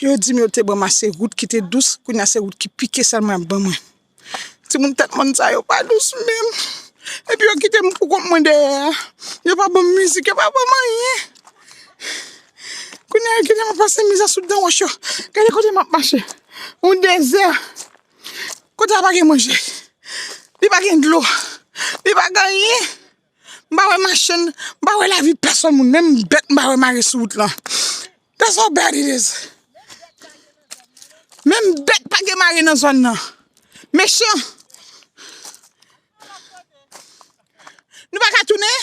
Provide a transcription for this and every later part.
Yo di m yo te ban m ase wout ki te dous, kounye a se wout ki pike sèlman y ap ban mwen. Timoun tèt mòn sa yo pa dous menm. Epi yo kite m poukont mwen dèyè a. Yo pa ban m mizik, yo pa ban m anyen. Kounye a yo kite m ap pase mizè sou dan wòch yo. Gade kote m ap mache, yon dezè. Kote a pa gen manje, li pa gen dlo, li pa gen anyen. M pa wè machann, m pa wè lavi pèsòn moun, menm bèt m pa wè mare sou wout lan. That's how bad it is. Menm bèt pa gen mare nan zòn nan. Mechan. Nou pa ka tounen?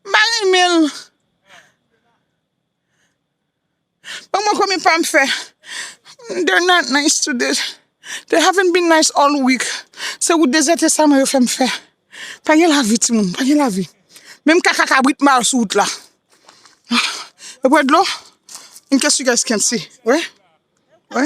M pa renmen l. Ban mwen komi pam fè. They're not nice today. They haven't been nice all week. Se wout dezète sa mwen yo fè m fè. Pa gen lavi timoun, pa gen lavi. Menm kaka kabrit m bal sou wout la. Yo bwè dlo? In case you guys can't see. Wè? Wè?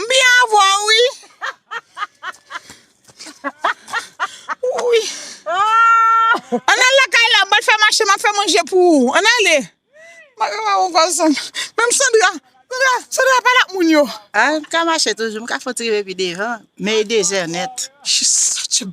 M byen avè w wi. Wouyy. Ann al lakay la m pral fè mache m ap fè manje pou ou. Ann ale. Mwen pa wè w ankò san. Menm Sandra. Sandra, Sandra pale ak moun yo. M ka mache toujou, m ka fout rive pi devan. Men e dezè nèt. She's such a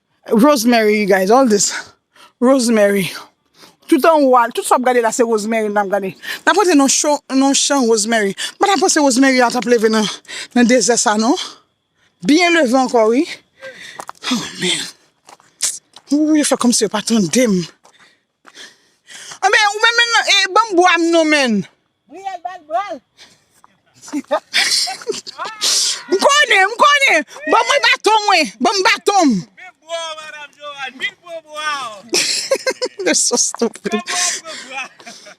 Rosemary you guys all this Rosemary tout anwo a tout sa wap gade la se Rosemary nap gade nap rete nan cho nan chan Rosemary m pata panse Rosemary a tap leve nan nan dezè sa non byen leve ankò wi oh man ooh yo fè kòmsi yo pa tandem. Anben ou menm menm e banm bwa m non menn. Brielle bal bral. M konnen m konnen ban mwen baton mwen banm baton m. Mil bwa w madam Joanne mil bwa bwa w. Nèg so stupid. Fè bwa w pran bwa.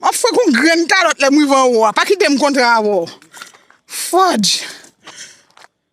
Map fwe kon grenn kalot lèm rive anwo a pa kitem kontre avèw fòdj.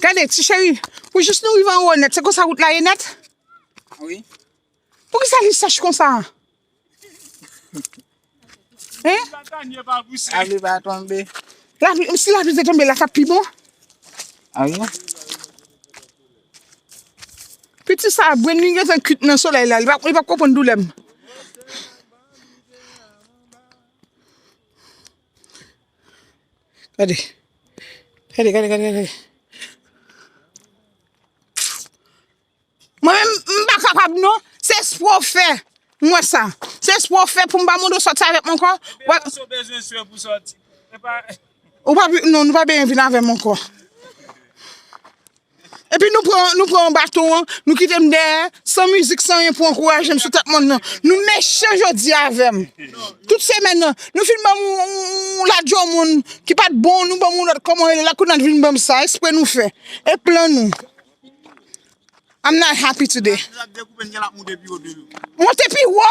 Gade ti cheri, pou jis nou rive anwo nèt, se konsa wout la ye nèt? Wi. Poukisa li sèch konsa? Hein? Lavi va tonbe. Lavi, si lavi te tonbe la tap pi bon? Awi. Piti sa brenn li gentan kwit nan solèy la li pap li pap konprann doulèm. Gade gade gade gade gade Mwen menm m pa kapab non se espre w fè m wè sa se espre w fè pou m pa mande w sòti avèk m ankò wè Epa sou bezwen swe pou sòti epa Ou pa non nou pa bezwen vin avè m ankò. Epi nou pran nou pran yon baton an nou kite m dèyè san mizik san anyen pou ankouraje m sou tèt mòn nan nou mechan jodi a avè m tout semèn nan nou fin ban m yon ladjò moun ki pa t bon nou ban m yon lòt kòman rele l la kounye a n vin ban m sa espre nou fè e plan nou I'm not happy today monte pi wo.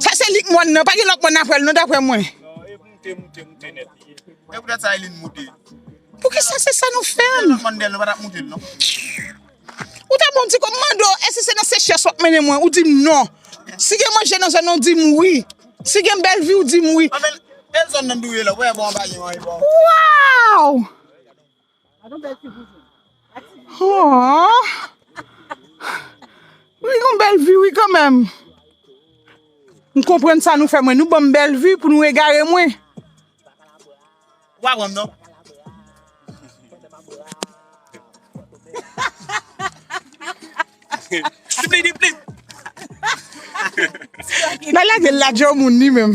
Sa se lik mòn nan, pa gen lòt mòn aprè l non daprè mwen. Poukisa se sa nou fè m? Ou ta bon m di kòm mande w èske se nan sechyès w ap mennen mwen ou di m non. Si gen manje nan zòn nan ou di m wi. Si gen bèl vi ou di m wi. Waww! Gadon bèl fi pou jwenn. Li gon bèl vi wi kanmèm. M konprann sa nou fè mwen. Nou banm bèl vi pou nou egare mwen. Ou pa pranm non. Siplidiplip. Nan lagel la djo moun li menm.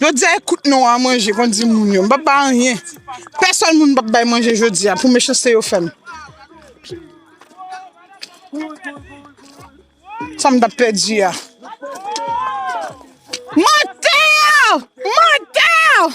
Jodia e kout non an manje konn di moun yo m pap bay anyen pèsòn moun m pap bay manje jodia pou mechanste yo fèm sa m tap pèdi a mantèèè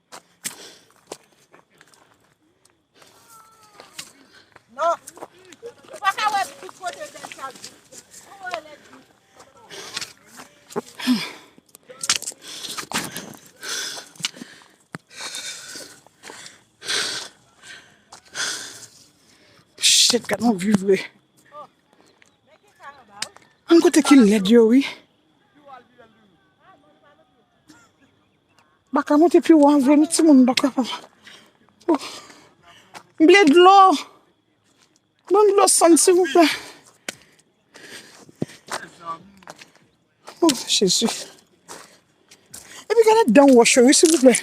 Shit, gad yon vue vre. An kote ki led yo wi. Baka monte pi wan vre nou timoun baka pa. M vle dlo. Ban m dlo san silvouplè. Oh Jezi. E pi gade dan wòch yo wi silvouplè.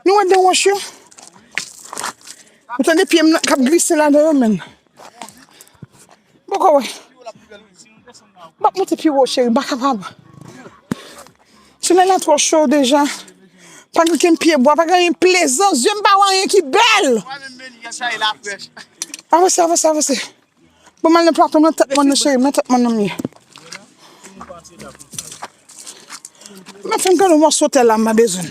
Nou wè dan wòch yo? Ou tande pye m nan kap glise ladan yo menm. Mwen poko wè. Mwen ap monte pi wo cheri, m pa kapab. Tunèl la twò cho deja. Pa gen okenn pyebwa, pa gen anyen plezan. Zye m pa wè anyen ki bèl. Avanse, avanse, avanse. Bon, m al nan plato m lan, tèt mòn nan cheri m, nan tèt mòn nan m ye. Mwen fè m gade yon mòso tè la m bezwen.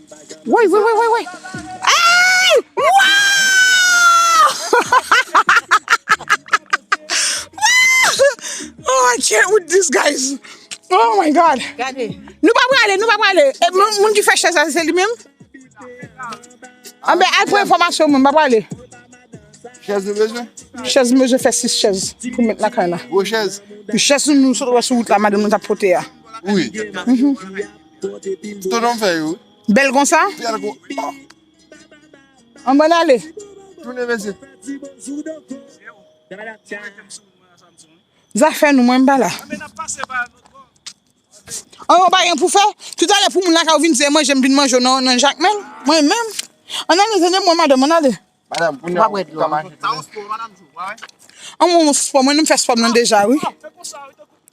Woy woy woy woy woy Eeyy Waww Waww I can't with this guys Oh my God Nou pa prale nou pa prale E moun ki fè chèz la se li menm Anben al pran enfòmasyon moun pa prale Chèz nou bezwen? Chèz m bezwen fè 6 chèz pou met lakay la. Gwo chèz? Chèz nou sot wè sou wout la madanm nou tap pote a. Wi. Tonom fè yo. Bel konsa? Bel kon. An mwen ale. Tounen mesye. Zafè nou mwen pa la. An mwen pa yon pou fè. Tout ale pou moun la ka ou vin se manje m vin manje nan jakmel. Mwen menm. An ale zanne mwen madan mwen ale. Madam pou nou wè dlo. An mwen mwen fè spò mwen mwen fè spò mwen deja wi.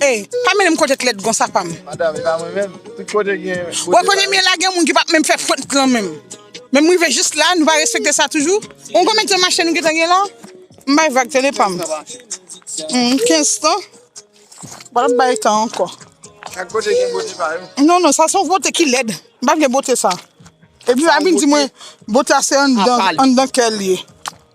Ey pa mennen m kote t lèd konsa pa m. Madame e pa mwen menm tout kote gen bote pa yo. Wè kote m ye la gen moun ki pap menm fè fwent lan menm. Men m rive jis la nou pa respekte sa toujou. Ou konn konbyen tan mache nou gentan gen la? M bay vag tande pa m. Humm 15 tan? Bon nap bay tan ankò. Chak kote gen bote pa yo. Non non sa se yon bote ki lèd. M pa vle bote sa. Epi pa vin di mwen bote a se anndan kè l ye.